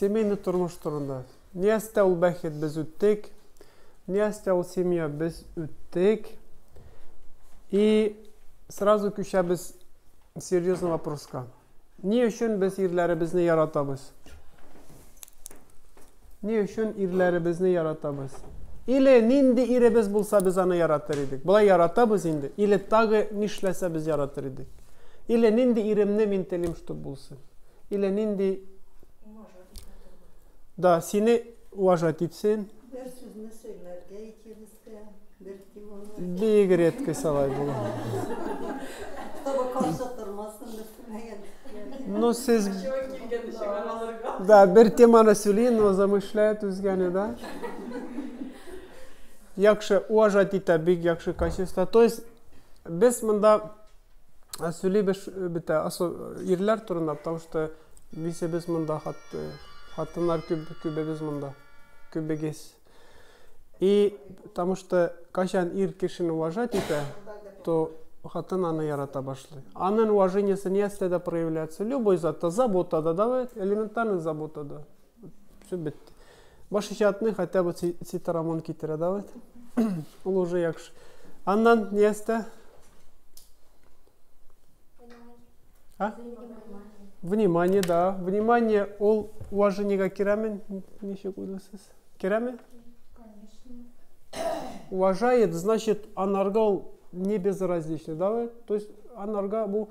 Семейный тормыш турында. Ниястә ул бәхет без үттек. Ниястә ул семья без үттек. И сразу күчәбез серьезный вопроска. Ни өчен без ирләребезне яратабыз? Ни өчен ирләребезне яратабыз? Или нинди иребез булса без аны яратыр идек? Болай яратабыз инде. Или тагы нишләсә без яратыр идек? Или нинди иремне мин телим, чтобы булсын? Или нинди да сине уважать итсен. Бер сүзне сөйләргә икебезгә бер километр. Бик редко салай була. Таба каршы тормасын дип күрмәгән. Ну сез Да, бер теманы сөйлин, но замышляет үзгәне, да? Яхшы, уважать итә, бик яхшы качество. То есть без монда Ә сөйлибез бетә. Асыл ирләр турында, потому что бисебез монда, хат, хатыннар күп, күбебез монда. Күбегез. И потому что качан ир кешене уважать итә, то хатын аны ярата башлый. Анын уважениесе нәрсәдә проявляется? Любой затта, заботада, давай, элементарный заботада. Все бетте. Баш иҗатны хотя бы Цитарамон китерә да вот. Ул уже яхшы. Аннан ни әстә? А? Внимание, да. Внимание, ол уважениега керәме? Ничек уйлыйсыз? Керәме? Уважает, значит, анарга не безразлично, да? То есть анарга бу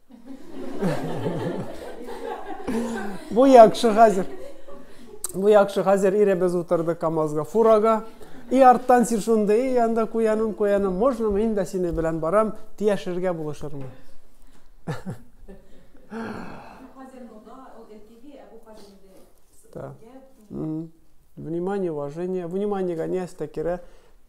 Бу яхшы хәзер. Бу яхшы хәзер иребез утырды КАМАЗга, фурага. И арттан син шунда, и анда куяным, куяным. Можно мин дә сине белән барам, тияшергә булышырмын. Да. Внимание, уважение. Внимание, гонясь, так и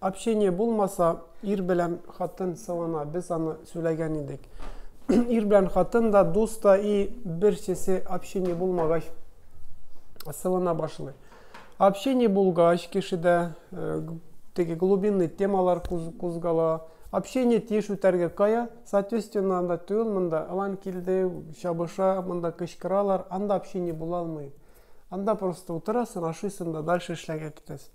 Общение булмаса, ир белән хатын сылана, без аны сөйләгән идек. ир белән хатын да, дус та и берсесе общение булмагач сылана башлый. Общение булгач кешедә э, теге глубинный темалар кузгала. Общение тиеш үтәргә кая, соответственно, анда түгел монда, алан килде, чабыша, монда кычкыралар, анда общение була алмый. Анда просто утырасың, ашыйсың да дальше эшләргә китәсең.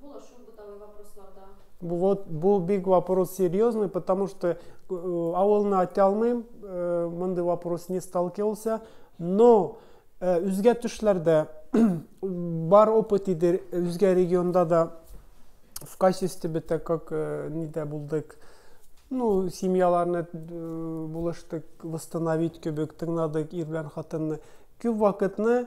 Булашу бытовой вопросларда. Вот бу бик вопрос серьезный, потому что э, авылны айта алмыйм, э, мондый вопрос не сталкивался, но э, үзгә төшләрдә бар опыт иде, үзгә регионда да в качестве бета как э, нидә булдык, ну, семьяларны э, булыштык, восстановить кебек, тыңладык ир белән хатынны. Күп вакытны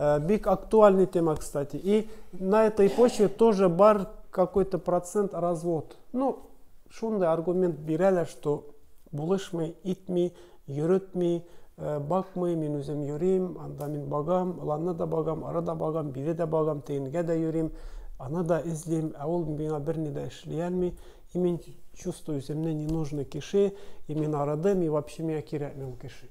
Э, бик актуальный тема, кстати. И на этой почве тоже бар какой-то процент развод. Ну, шундай аргумент бирәләр, что булышмый, итми, йөрөтми, э, бакмый, мин үзем йөрим, анда мин багам, ланны да багам, ара да багам, бире да багам, тегенгә дә йөрим, аны да эзлим, ә ул миңа берни дә эшли алмый, и мин чувствую, земне не нужны кеше, и мин арадым, и вообще миңа кирәкми ул кеше.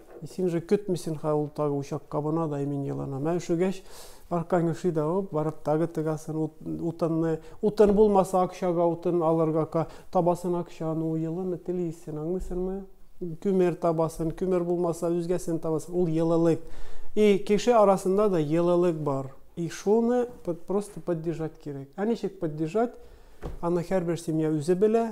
И син уже көтмисен ха ул тагы учак кабына да и мин еланам ә өшегәч аркаң өши да оп барып тагы тыгасың утынны утын булмаса акчага утын алырга табасың акчаны ул елыны телисең аңлыйсыңмы күмер табасың күмер булмаса үзгәсен табасың ул елылык и кеше арасында да елылык бар и шуны просто поддержать кирәк ә ничек поддержать аны һәрбер семья үзе белә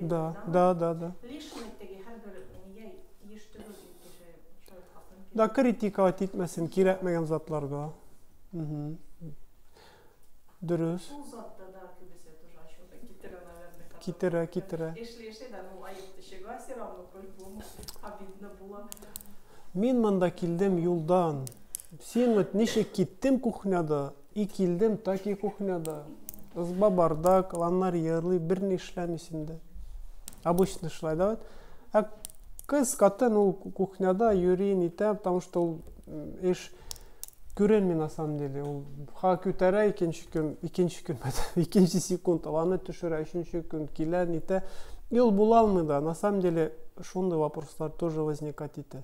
Да, да, да, да. Да, критика итмәсен, кирәкмәгән затларга. Дөрес. Китерә, китерә. Мин монда килдем юлдан. Син вот ничек киттем кухняда? И килдем, так и кухняда. Ызба барда, кланнар йырлый, бер ни эшләми синдә. Обычно шулай да вот. Ә кыз, катын ул кухняда йөри, нитә, потому что ул эш күренми на самом деле. Ул ха күтәрә икенче көн, икенче көн, икенче секунд аланы төшерә, өченче көн килә, нитә. И ул була алмый да. На самом деле шундый вопрослар тоже возникать итә.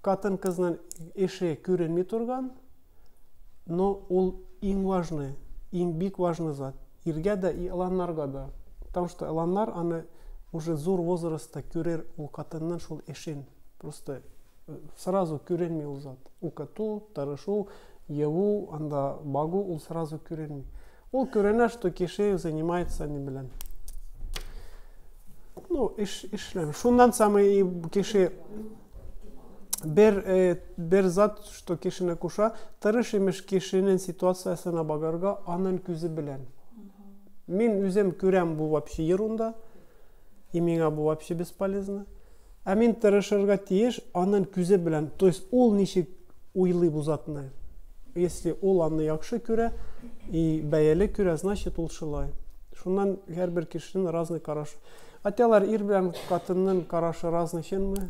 Катын кызның эше күренми торган, Но ул иң важный, иң бик важный зат. Иргә дә и ыланнарга да. Потому что ыланнар аны уже зур возрастта күрер ул катынның шул эшен. Просто э, сразу күренми ул зат. Укыту, тырышу, еву, анда багу ул сразу күренми. Ул күренә, что кеше занимается не белән. Ну, эш, эшлән. Шуннан самый кеше бер, э, бер зат Что кешене куша, тырыш имеш кешенен ситуациясына багарга анын күзе белән. Мин үзем күрәм бу вообще ерунда, и миңа бу вообще бесполезно. Ә мин тырышырга тиеш анын күзе белән, то есть ул ничек уйлый бу затны. Если ул аны яхшы күрә и бәяле күрә, значит ул шулай. Шуннан һәрбер кешенен разный карашы. Атялар ир белән катыннын карашы разный чынмы?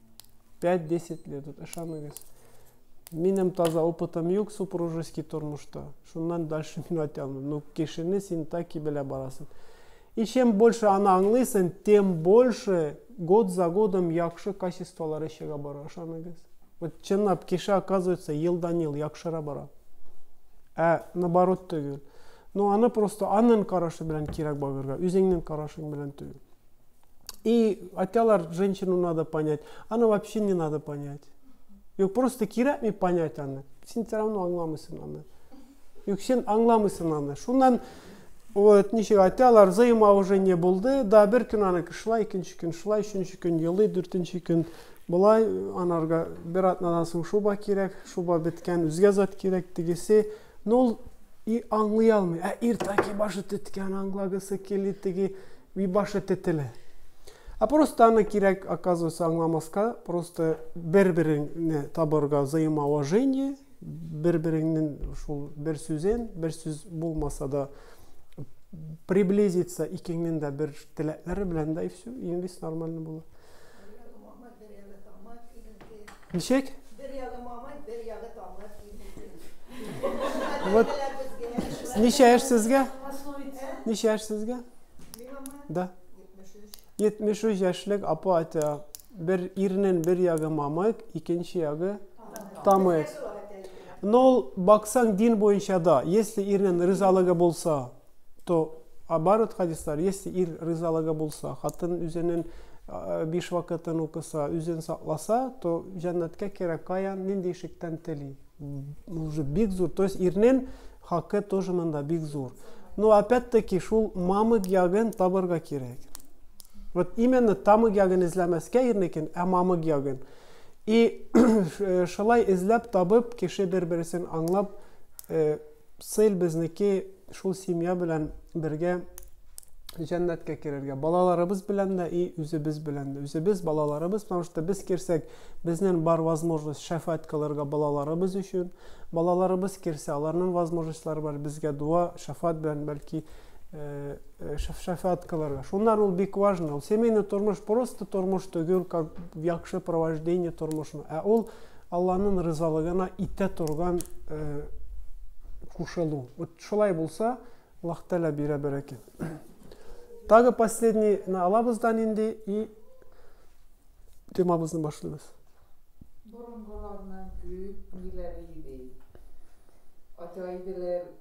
5-10 лет, вот ышаныгыз. Минем таза опытым юк супружеский тормышта. Шуннан дальше мин айта алмыйм. Ну, кешене син таки белә барасың. И чем больше аны аңлыйсың, тем больше год за годом яхшы качестволары чыга бара, ышаныгыз. Вот чынлап кеше оказывается елдан-ел яхшыра бара. Ә наоборот түгел. Ну, аны просто анын карашы белән кирәк багырга, үзеңнең карашың белән түгел. И айталар, женщину надо понять. Аны вообще не надо понять. Юк, просто кирәкми понять аны. Син все равно аңламыйсың аны. Юк, син аңламыйсың аны. Шуннан вот ничек айталар, взаимоуважение булды. Да, бер көн аны шулай, икенче көн шулай, өченче көн елый, дүртенче көн болай, анарга бер атнадан соң шуба кирәк, шуба беткән, үзгә зат кирәк, тегесе, Ну ул и аңлый алмый. Ә ир таки башы теткән, аңлагысы кили теги, и башы тетелә. Ә просто аны кирәк, оказывается, аңламаска, просто бер-береңне табырга взаимоуважение, бер-береңнен шул бер сүзен, бер сүз булмаса да приблизиться икеңнен дә бер теләкләре белән дә и все, и весь нормально була. Бер ягы тамыр, именке. Ничек? Бер ягы мамай, бер ягы тамыр, именке. Вот. Ничә яшь сезгә? Ничә яшь сезгә? Да. 73 яшьлек апа әйтә, бер ирнен бер ягы мамык, икенче ягы тамык. Но ул баксаң дин буенча да, если ирнен ризалыгы булса, то оборот хадислар, если ир рызалыгы булса, хатын үзенен биш вакытын укыса, үзен сакласа, то җәннәткә керә каян, нинди ишектән тели. Уже бик зур. То есть ирнен хакы тоже монда бик зур. Но опять-таки шул мамык ягын табырга кирәк. Вот именно тамык ягын эзләмәскә ирнекен, ә мамык ягын. И шулай эзләп табып, кеше бер-берсен аңлап, Сыйл безнеке шул семья белән бергә җәннәткә керергә. Балаларыбыз белән дә и үзебез белән дә. Үзебез балаларыбыз, потому что без керсәк, безнен бар возможность шәфәат кылырга балаларыбыз өчен. Балаларыбыз керсә, аларның возможностьлары бар безгә дуа, шәфәат белән бәлки э, э, шәфәат кылырга. Шуннан ул бик важно. Ул семейный тормыш просто тормыш түгел, как якшы провождение тормышны. Ә ул Алланын ризалыгына итә торган кушылу. Вот шулай булса, Аллах Тәлә бирә бәрәкәт. Тагы последний на алабыз да нинди и темабызны башлыйбыз. Борынгыларның күп ниләре иде. Ача иделәр.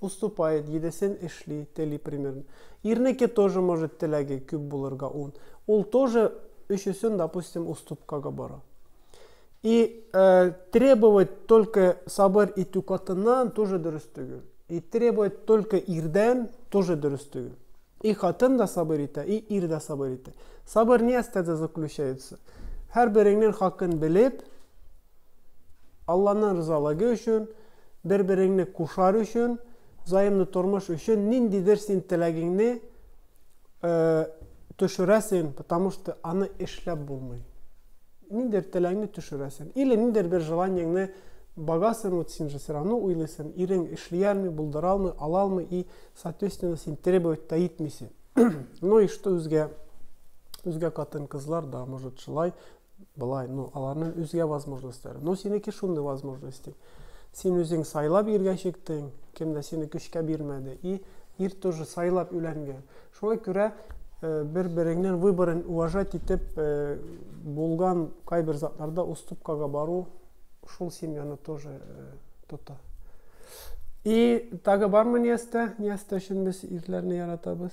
Уступает, җидесен эшли, тели примерно. Ирнеке тоже может теләге күп булырга ун. Ул тоже өчесен, допустим, уступкага бора. И э, требовать только сабыр итү катыннан тоже дөрес түгел. И требовать только ирдән тоже дөрес түгел. И хатын да сабыр итә, и ир дә сабыр итә. Сабыр ни астәдә заключается? Һәр береңнең хакын белеп, Алланың ризалыгы өчен, бер-береңне кушар өчен, взаимный тормыш өчен ниндидер син теләгеңне төшерәсең, потому что аны эшләп булмый. Ниндидер теләгеңне төшерәсең. Или ниндидер бер желаниеңне багасың, вот син же все равно уйлыйсың, ирең эшли алмый, булдыра алмый, ала алмый, и, соответственно, син требовать та итмисең. ну и что үзгә, үзгә катын-кызлар да, может, шулай, Болай, ну, аларның үзгә возможностьлары. Ну, синеке шундый возможность. Син үзең сайлап иргә чиктең, кем дә сине көчкә бирмәде. И ир тоже сайлап үләнгән. Шуңа күрә э, бер-береңнең выборын уважать итеп э, булган кайбер затларда уступкага бару шул семьяны тоже э, тота. И тагы бармы Ниястә? Ниястә өчен без ирләрне яратабыз.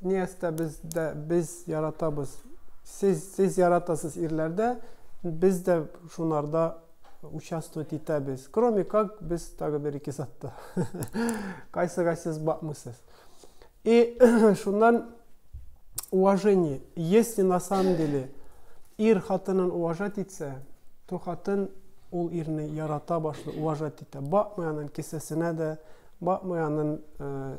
Ниястә без дә без яратабыз. Сез сез яратасыз ирләрдә, без дә шунарда участвовать итәбез. Кроме как без тагы бер ике затта. Кайсыга сез бакмыйсыз. И шуннан уважение. Если на самом деле ир хатынын уважать итсә, то хатын ул ирне ярата башлый, уважать итә. Бакмый анын кесәсенә дә, бакмый анын э,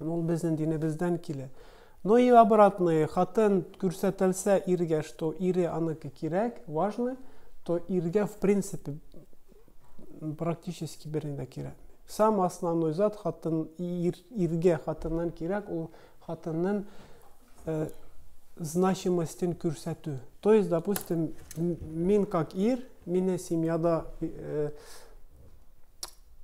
Ул безнең динебездән килә. Но и обратное, хатын күрсәтелсә иргә, что ире аныкы кирәк, важно, то иргә в принципе практически берни дә кирәк. Сам основной зат хатын ир, иргә хатыннан кирәк, ул хатынның э, значимостен күрсәтү. То есть, допустим, мин как ир, мине семьяда э,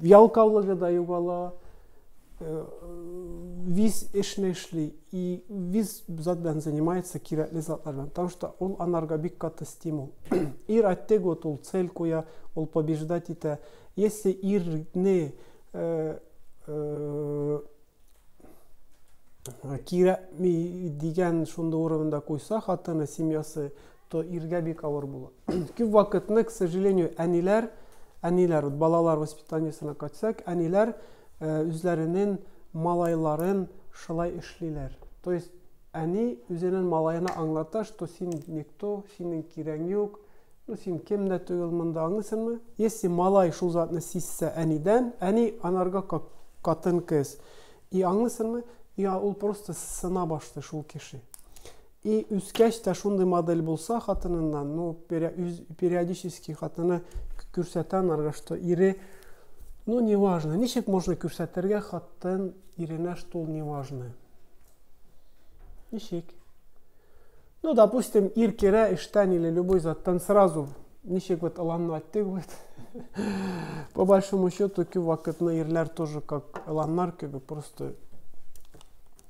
ялкаулыгы да югала, э, виз эшне эшли, и виз зат белән занимается, кирәкле затлар белән, потому что ул анарга бик каты стимул. ир әттек вот ул цель куя, ул побеждать итә. Если ирне э, э, кирәкми дигән шундый урында куйса хатыны, семьясы, То иргә бик авыр була. Күп вакытны, к сожалению, әниләр, әниләр, вот балалар воспитаниесына кайтсак, әниләр үзләренең малайларын шулай эшлиләр. То есть әни үзенең малаена аңлата, что син никто, синең кирәң юк, ну син кем дә түгел монда, аңлыйсыңмы? Если малай шул затны сизсә әнидән, әни анарга как катын-кыз. И аңлыйсыңмы? И ул просто сына башлый шул кеше. И үскәч тә шундый модель булса хатыныннан, ну, периодически хатыны күрсәтә анарга, что ире, ну, не важно, ничек можно күрсәтергә хатын иренә, что ул не важно? Ничек? Ну, допустим, ир керә эштән или любой заттан сразу, ничек вот Аланны айттык вот, по большому счету, күп вакытны ирләр тоже как Аланнар кебек, просто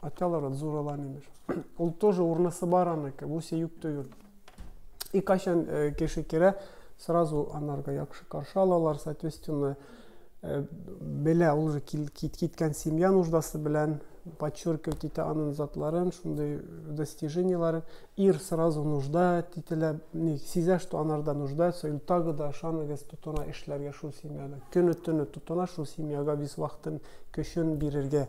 аталар, зур Алан имеш. Ул тоже урнысы бар аныкы, бу сөюк түгел. И кайчан э, кеше керә, сразу анарга яхшы каршы алалар, соответственно, э, белә ул же киткән семья нуждасы белән подчеркивать итә анын затларын, шундый достиженияларын. Ир сразу нужда тителә, не, сизә, что анарда нуждается, или тагы да ышаныгыз тотына эшләргә шул семьяда. Көне-төне тотына шул семьяга весь вакытын көчен бирергә.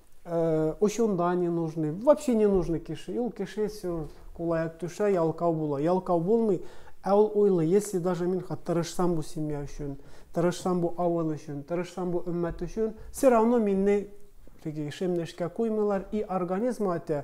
Э, очунда не нужны вообще не нужны кеше ул кеше все кулаяк төшә ялкау була ялкау булмый ә ул уйлый если даже мин тырышсам бу семья өчен тырышсам бу авыл өчен тырышсам бу өммәт өчен все равно минне теге эшемне эшкә куймыйлар и организм әйтә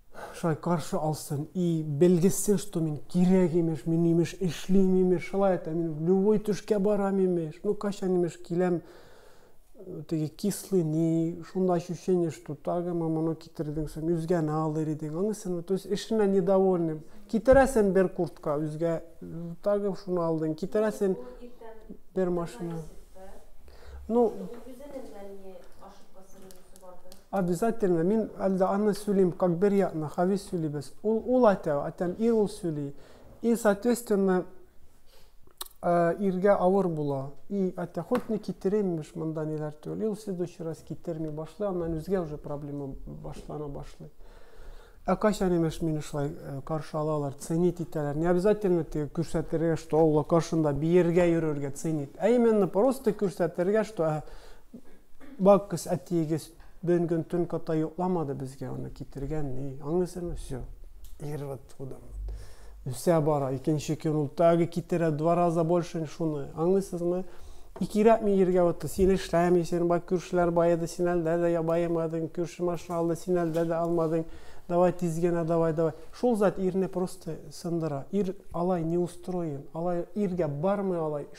Шулай каршы алсын и белгезсен, что мин кирәк, имеш, мин, имеш, эшлим, имеш, шулай әйтә, мин любой төшкә барам, имеш, ну кайчан, имеш, киләм, теге кислый ни, шунда ощущение, что тагы маманы китердең соң, үзгәне алыр идең, анысыны, то есть эшенә недовольным. Китерәсен бер куртка үзгә, тагы шуны алдың, китерәсен бер машина. Ну, обязательно мин әлдә аны сөйлим, как вероятно, хавис сөйлибез. Ул ул әйтә, әйтәм, ир ул сөйли. И, соответственно, э, иргә авыр була. И, әйтә, хоть не китереммеш монда ниләр түгел. И, ул следующий раз китерми башлый, аннан үзгә уже проблема башлана башлый. Ә кайчан имеш мине шулай э, каршы алалар, ценить итәләр. Не обязательно теге күрсәтергә, что Алла каршында биергә йөрергә ценить. Ә именно просто күрсәтергә, что э, бакыз әтиегез бен көн төн ката йокламады безгә аны китергән, ни, аңлыйсызмы? Все. Ирват тудым. үсә бара. Икенче көн ул тагы китерә два раза больше шуны. Аңлыйсызмы? Икерәп мин ергә утты. Син эшләмисең, бак күршеләр баеды, син әлдә дә баемадың, күрше машина алды, син әлдә дә алмадың. Давай тиз генә, давай, давай. Шул зат ирне просто сындыра. Ир алай не устроен, алай иргә бармый алай.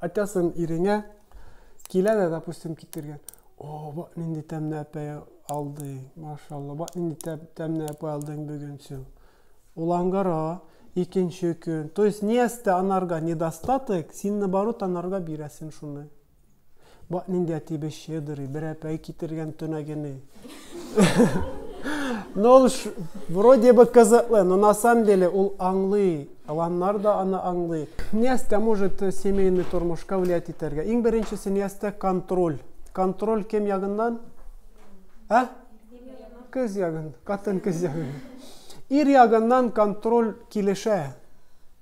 Атясын иреңә килә дә, допустим, китергән. О, бак нинди тәмле әпәй алды, машалла, бак нинди тәмле әпәй алдың бүген син. Улангара, икенче көн. То есть, ниястә анарга недостаток, син наоборот анарга бирәсен шуны. Бак нинди әтибез щедрый, бер әпәй китергән төнәгене. Ну, ул вроде бы кызыклы, но на самом деле ул аңлый. Аланнар да аны аңлый. Ниястә может э, семейный тормышка влиять итәргә. Иң беренчесе ниястә контроль. Контроль кем ягыннан? Ә? Кыз ягын, катын кыз ягын. Ир ягыннан контроль килешә.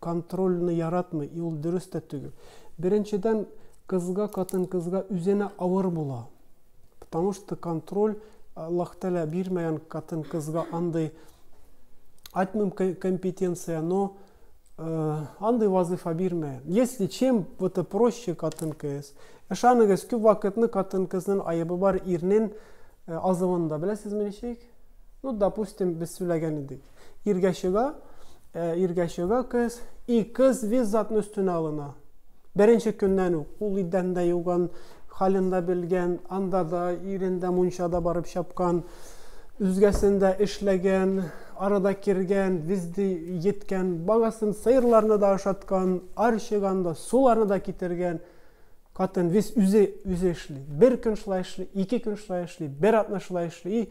контрольны яратмый и ул дөрес тә төгел. Беренчедән кызга катын кызга үзенә авыр була. Потому что контроль Аллах Тәлә бирмәгән катын кызга андый айтмым компетенция, но э, андый вазыйфа бирмәгән. Если чем вот это проще катын кыз, ышаныгыз күп вакытны катын кызның айыбы бар ирнен э, азывында. Беләсезме ничек? Ну, допустим, без сөйләгән идек. Иргә чыга, ә, иргә чыга кыз, и кыз виз затны өстенә алына. Беренче көннән үк ул идән дә юган, хален дә белгән, анда да ирендә мунчада барып чапкан, үзгәсендә эшләгән, арада кергән, визди еткән, багасын сыерларны да ашаткан, ар чыганда суларны да китергән. Катын виз үзе үзе эшли. Бер көн шулай эшли, ике көн шулай эшли, бер атна шулай эшли.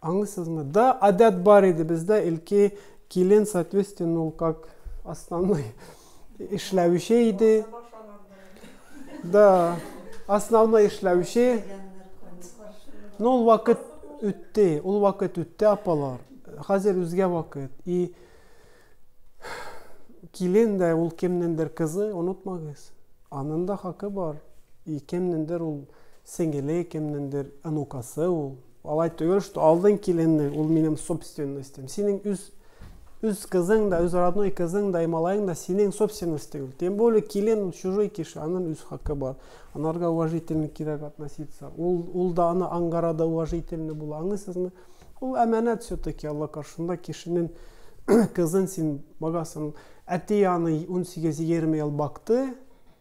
Аңлыйсызмы? Да, адәт бар иде бездә, илки килен, соответственно, ул как основной эшләүче иде. Да, основной эшләүче. Но ул вакыт үтте, ул вакыт үтте, апалар. Хәзер үзгә вакыт. И килен дә ул кемнендер кызы, онытмагыз. Анын да хакы бар. И кемнендер ул сеңеле, кемнендер анукасы ул. Алай түгел, что алдың киленне, ул минем собственностем. Синең үз үз кызың да, үз родной кызың да, малаең да синең собственность түгел. Тем более килен ул чужой кеше, аның үз хакы бар. Анарга уважительно кирәк относиться. Ул ул да аны аңгара да уважительно була, аңлыйсызмы? Ул әманәт все-таки Алла каршында кешенең кызын син багасың. Әти аны 18-20 ел бакты,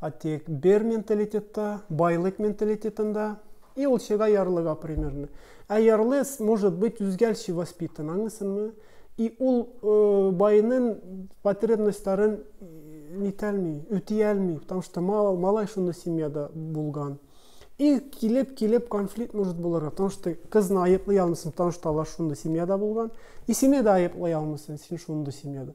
А тик бер менталитетта, байлык менталитетында, и ул чыга ярлыга примерно. Ә ярлы может быть үзгәлче воспитан, аңлыйсыңмы? И ул э, байның потребностьларын нитәлми, үтиәлми, потому что мал, малай шундый семьяда булган. И килеп, килеп конфликт может булырга, потому что кызны айыплый алмыйсың, потому что алар шундый семьяда булган. И сине дә айыплый алмыйсың, син шундый семьяда.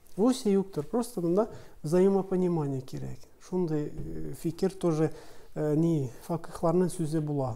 Русия юктыр, просто мында взаимопонимание кирәк. Шундый э, фикер тоже э, ни факыхларның сүзе була.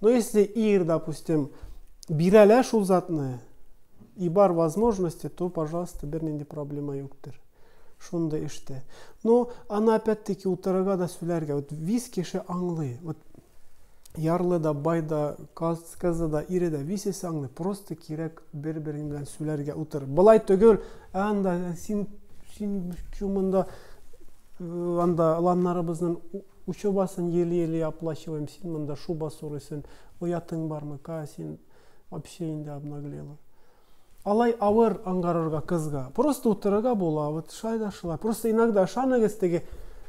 Но если ир, допустим, бирәлә шул затны, и бар возможности, то, пожалуйста, бер нинди проблема юктыр. Шундый эштә. Но аны опять-таки утырырга да сүләргә. Вот виз кеше аңлый. Вот ярлы да, бай да, каз, кызы да, ире дә, висесе аңлый. Просто кирәк бер-берең белән сүләргә утыр. Былай түгел, анда син син чумында анда ланнарыбызның Учебасын елый-елый оплачиваем, син монда шуба сорыйсын, оятың бармы, ка, син вообще инде обнаглела. Алай авыр ангарырга кызга. Просто утырырга була, вот шай да шылай. Просто иногда ышаныгыз теге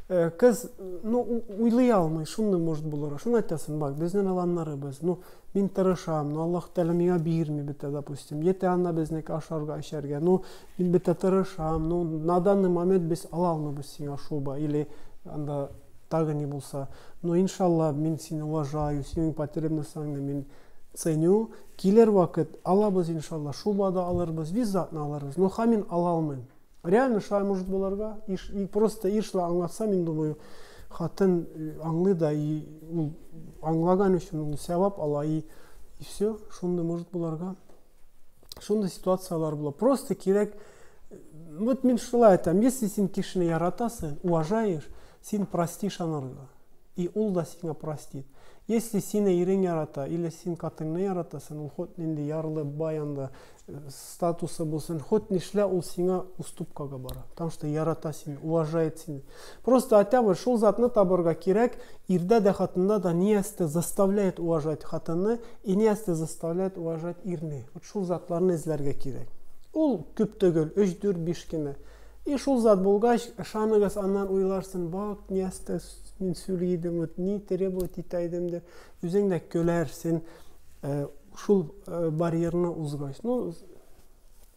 э, кыз, ну, уйлый алмый, шуны может булырга. Шуны айтасың, бак, безнен аланнары без. Ну, мин тырышам, но Аллах Тәлә миңа бирми бит, допустим. Ете анна безнеке ашарга, эчәргә. Ну, Мин бетә тырышам, ну, на данный момент без ала алмыйбыз сиңа шуба, или анда тагы ни булса. Но иншалла, мин сине уважаю, синең потребностьларыңны мин ценю. Килер вакыт, алабыз иншалла, шуба да алырбыз, визатны алырбыз. Но хамин ала алмыйм. Реально шулай может булырга. Иш, и просто ир шулай аңлатса, мин думаю, хатын э, аңлый да, и ул аңлаган өчен ул сәвап ала, и, и все, шундый может булырга. шундый ситуациялар була просто кирәк вот мин шулай айтам если син кешене яратасың уважаешь син простишь анарга и ул да сиңа простит если сине ирең ярата или син катыңны яратасың ул хоть нинди ярлы бай анда э, статусы булсын хоть нишлә ул сиңа уступкага бара потому что ярата сине уважает сине Просто хотя бы шул затны табырга кирәк, ирдә дә хатында да ниясте заставляет уважать хатынны и ниясте заставляет уважать ирне. Вот шул затларны эзләргә кирәк. Ул күп түгел, 3-4-5 кенә. И шул зат булгач, ышаныгыз, аннан уйларсын, бак, ниясте мин сөйли идем, вот ни требовать итә идем дип, үзең дә көләрсен, э, шул э, барьерны узгач. Ну,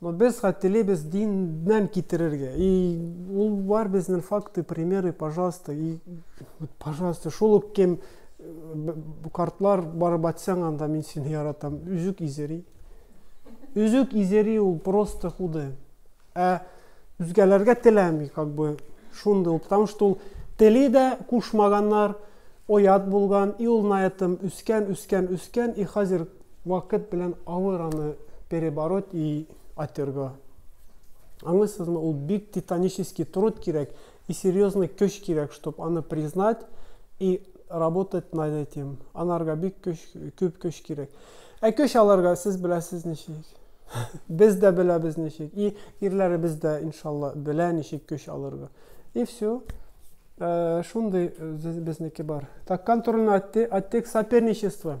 Но без ха телибез дин нән китерергә. И ул бар безнен факты, примеры, пожалуйста. И пожалуйста, шул ук кем бу картлар барып атсаң анда мин сине яратам. Үзүк изери. Үзүк изери ул просто худы. Ә үзгәләргә теләми, как бы шундый ул, потому что ул тели дә кушмаганнар, оят булган, и ул на этом үскән, үскән, үскән, и хәзер Вакыт белән авыр аны перебороть и отерго. Аңлыйсызмы, ул бик титанический труд кирәк и серьезный көч кирәк, чтоб аны признать и работать над этим. Анарга бик көч, күп көч кирәк. Ә көч аларга сез беләсез ничек. Без дә беләбез ничек. И ирләребез дә, иншалла, белә ничек көч алырга. И все. Э, шундый э, безнеке бар. Так, контрольный отдел, отдел соперничества.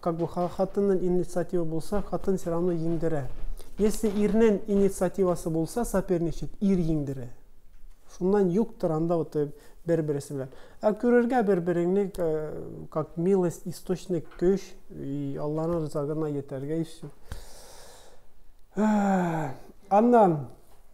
Как бы хатыннын инициатива булса, хатын все равно еңдерә. Если ирнен инициативасы булса, соперничать, ир еңдерә. Шуннан юктыр анда вот бер-бересе белән. Ә күрергә бер-береңне как милость, источник көч, и Алланың рызагына йетәргә и все. Аннан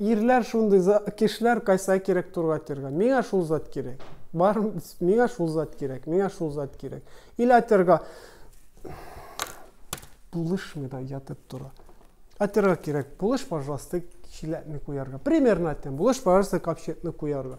Ирләр шундый за кешеләр кайсыга кирәк турга терга миңа шул зат кирәк бар миңа шул зат кирәк миңа шул зат кирәк или атерга булышмый да ятып тора атерга кирәк булыш пожалуйста чиләкне куярга примерно әйтәм булыш пожалуйста капчыкны куярга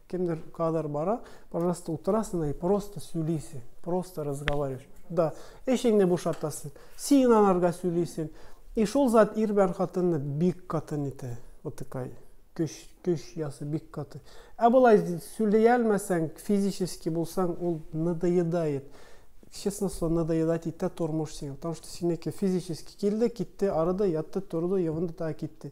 Кемдер кадр бара, пожалуйста, утырасың и просто сөйлисең, просто разговариваешь. Да, эшеңне бушатасың, син анарга сөйлисең. И шул зат ир белән хатынны бик катын итә. Вот такая көч, көч ясы бик каты. Ә болай сөйли алмасаң, физически булсаң, ул надоедает. Честно слово, надоедать итә тормыш сиңа. Потому что синеке физически килде, китте, арыды, ятты, торды, йогынды, та китте.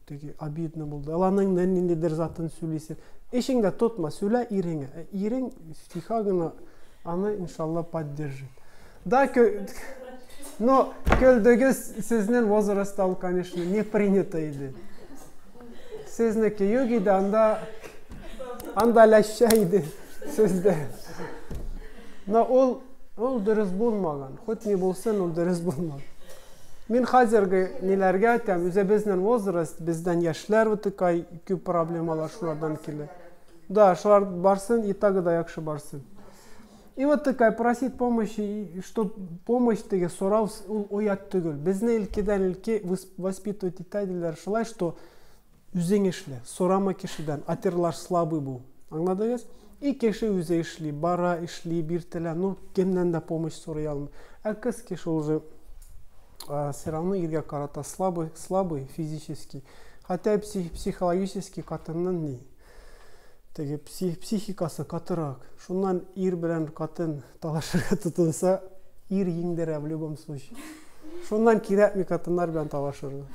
Теге обидно булды. Аланың нен ниндидер затын сүлисен. Эшең дә тотма, сүлә иреңә. Ә ирең тиха гына аны иншалла поддержит. Да, кө... но көлдегез сезнен возрастта ул, конечно, не принято иде. Сезнеке юк иде, анда анда ләшчә иде сездә. Но ул ул дөрес булмаган. Хоть ни булсын, ул дөрес булмаган. Мин хәзерге ниләргә әйтәм, үзе безнен возраст, бездән яшьләр утыкай күп проблемалар шулардан килә. Да, шулар барсын, и так да яхшы барсын. И вот такая просить помощи, что помощь теге сорау ул оят түгел. Безне илкидән илке воспитывать итә диләр шулай, что Үзең эшлә, сорама кешедән, отерлаш слабый бул. Аңладыгыз? И кеше үзе эшли, бара, эшли, биртелә, ну, кемнән дә помощь сорый алмый. Ә кыз кеше ул же все равно иргә карата слабый, слабый физически. Хәтта псих, психологически катыннан ни? Теге псих, психикасы катырак. Шуннан ир белән катын Талашырга тотынса, ир еңдерә в любом случае. Шуннан кирәкми хатыннар белән талашырга.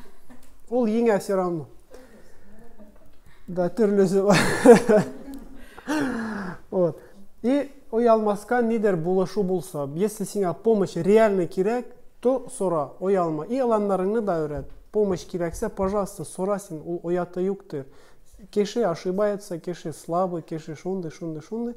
Ул еңә все равно. Да, төрлесе бар. Вот. И оялмаска нидер булышу булса, если сиңа помощь реально кирәк, то сора, оялма. И аланнарыңны да өйрәт. Помощь кирәксә, пожалуйста, сора син, ул ояты юктыр. Кеше ошибается, кеше слабый, кеше шундый, шундый, шундый.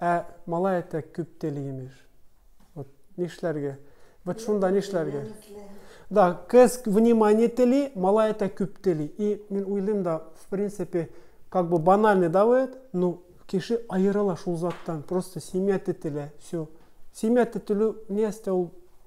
Ә малай әтәк күп тели имеш. Вот нишләргә? Вот шунда нишләргә? Да, кыз внимание тели, малай әтәк күп тели. И мин уйлыйм да, в принципе, как бы банальный, да, вот, ну, кеше аерыла шул заттан, просто семья тетелә, все. Семья тетелү нәрсә ул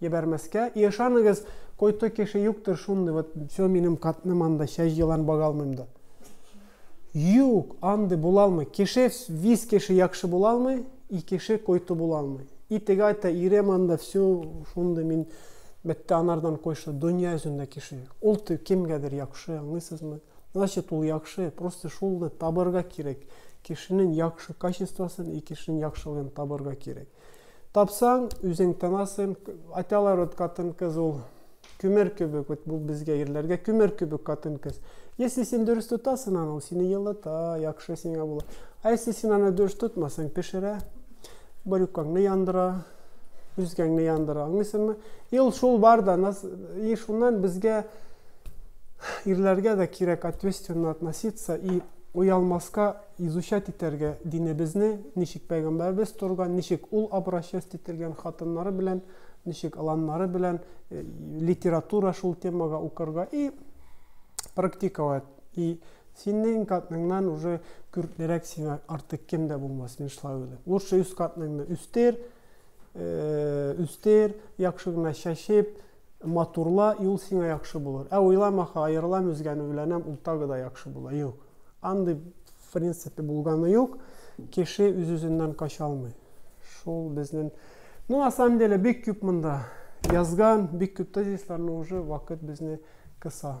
Ебәрмәскә. И ышаныгыз, койты кеше юктыр шундый, вот все минем катным анда чәч елан бага алмыйм да. Юк, андый була алмый. Кеше, виз кеше якшы була алмый, и кеше койты була алмый. И теге айта, ирем анда все шундый мин бетте анардан койшы, дөнья йөзендә кеше юк. Ул ты кемгәдер якшы, аңлыйсызмы? Значит, ул якшы, просто шулны табырга кирәк. Кешенең якшы качествосын и кешенең яхшылыгын табырга кирәк. Тапсаң, үзең тынасың. Айталар вот катын-кыз ул күмер кебек, вот бу безгә ирләргә күмер кебек катын-кыз. Если син дөрес тотасың аны, ул сине елыта, яхшы сиңа була. А если син аны дөрес тотмасаң, пешерә, брюкаңны яндыра, үзгәңне яндыра, аңлыйсыңмы? И ул шул бар да, нас, и шуннан безгә ирләргә дә кирәк ответственно относиться и уялмаска изучать итәргә динебезне, ничек пәйгамбәребез торган, ничек ул обращаться ителгән хатыннары белән, ничек аланнары белән, э, литература шул темага укырга и практиковать. И синең катныңнан уже күрклерәк сиңа артык кем дә булмас, мин шулай уйлыйм. Лучше үз катныңны үстер, э, үстер, яхшы гына чәчеп, Матурла, юл сиңа яхшы булыр. Ә уйламаха, аерылам үзгәне өйләнәм, ул тагы да яхшы була. Юк. Андый в принципе булганы юк. Кеше үз-үзеннән кача алмый. Шул безнең Ну, на самом деле, бик күп монда язган, бик күп тезисларны уже вакыт безне кыса.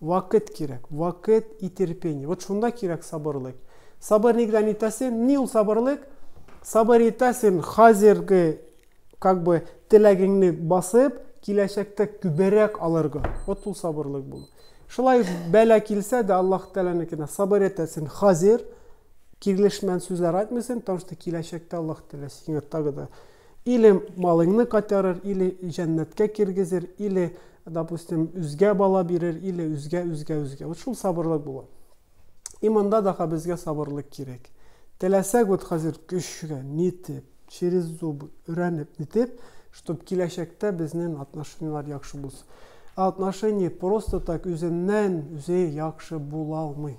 Вакыт кирәк, вакыт и терпение. Вот шунда кирәк сабырлык. Сабыр нигдән итә син? Ни ул сабырлык? Сабыр итә син хәзерге как бы теләгеңне басып, киләчәктә күберәк алырга. Вот ул сабырлык бул. Шулай бәла килсә дә Аллаһ Тәгаләнекенә сабыр итә син хәзер, кирлешмән сүзләр әйтмисең, потому что киләчәктә Аллаһ Тәгалә сиңа тагы да Или малыңны кайтарыр, или җәннәткә киргезер, или, допустим, үзгә бала бирер, или үзгә, үзгә, үзгә. Вот шул сабырлык була. И монда даха безгә сабырлык кирәк. Теләсәк вот хәзер көчкә, нитеп, через зубы, өрәнеп, нитеп, чтоб киләчәктә безнең отношенияләр яхшы булсын. Ә отношение просто так үзеннән үзе яхшы була алмый.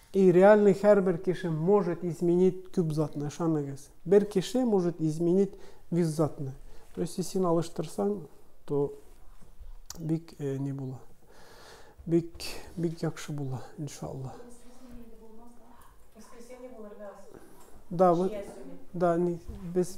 И реальный һәрбер кеше может изменить күп затны, ышаныгыз. Бер кеше может изменить виз затны. То есть син алыштырсаң, то бик не була. Бик, бик якшы була, иншалла. Да, да, без...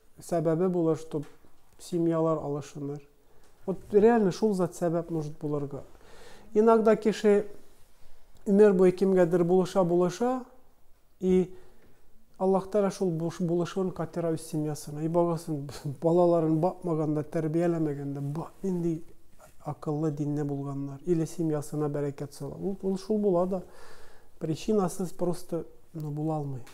Сәбәбе булыр, чтоб семьялар алышыныр. Вот реально шул зат сәбәп может булырга. Иногда кеше өмер буе кемгәдер булыша булыша и Аллаһ Тәгалә шул булышуын катыра үз семьясына. И багасын балаларын бакмаганда, тәрбияләмәгәндә, ба нинди акыллы, динле булганнар. Или семьясына бәрәкәт сала. Ул, ул шул була да. Причинасыз просто ну, була алмый.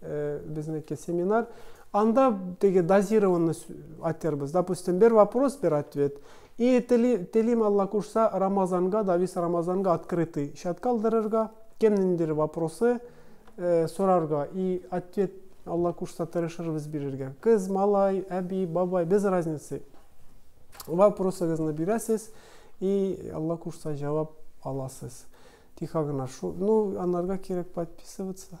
Э, безнеке семинар анда теги дозированный айтырбыз допустим бир вопрос бир ответ и телим алла кушса рамазанга давис рамазанга открытый счет калдырырга кем ниндир вопросы э, сорарга и ответ алла кушса тырышырбыз бирергә кыз малай әби бабай без разницы вопросыгызны бирәсез и алла кушса җавап аласыз тихо гына шу ну анарга кирәк подписываться